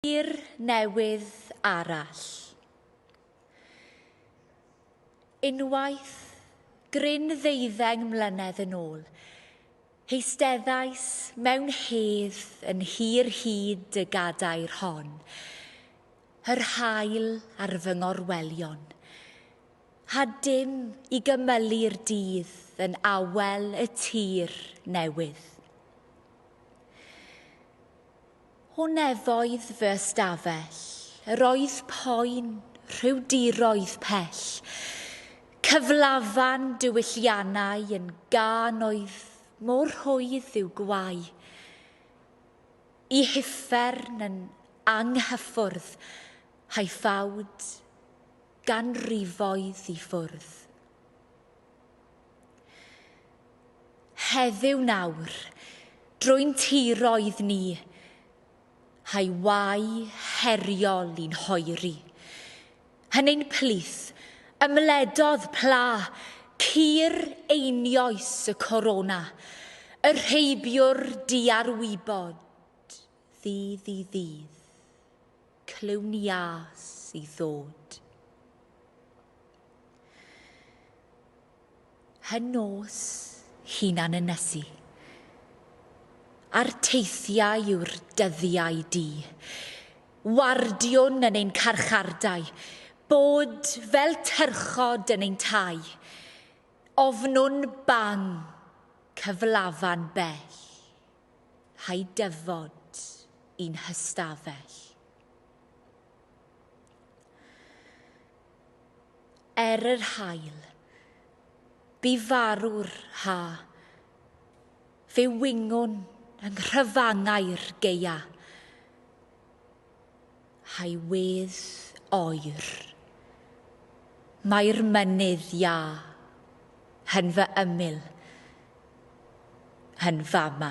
Tir newydd arall. Unwaith, gryn ddeuddeng mlynedd yn ôl, heisteddais mewn hedd yn hir hyd y gadair hon, yr haul ar fy ngorwelion, a dim i gymylu'r dydd yn awel y tir newydd. Hwnne oedd fy ystafell. Yr oedd poen, rhyw diroedd pell. Cyflafan diwylliannau yn gân oedd mor rhwydd i'w gwau. Y huffern yn anghyffwrdd, haethawd ganrifoedd i ffwrdd. Heddiw nawr, drwy'n tiroedd ni, hai wai heriol i'n hoeri. Yn ein plith, ymledodd pla cur einioes y corona, y rheibiwr diarwybod ddydd i ddydd. clywn-iâs i ddod. Hy nos hunan ynysu. A'r teithiau yw'r dyddiau di. Wardiwn yn ein carchardai, bod fel tyrchod yn ein tai. Ofnwn bang cyflafan bell. Rhai dyfod i'n hystafell. Er yr hael, bu farw'r ha. Fe wyngon yng nghrafangau'r geia. Hywedd oer. Mae'r mynydd iâ. Yn fy ymyl. Yn fama.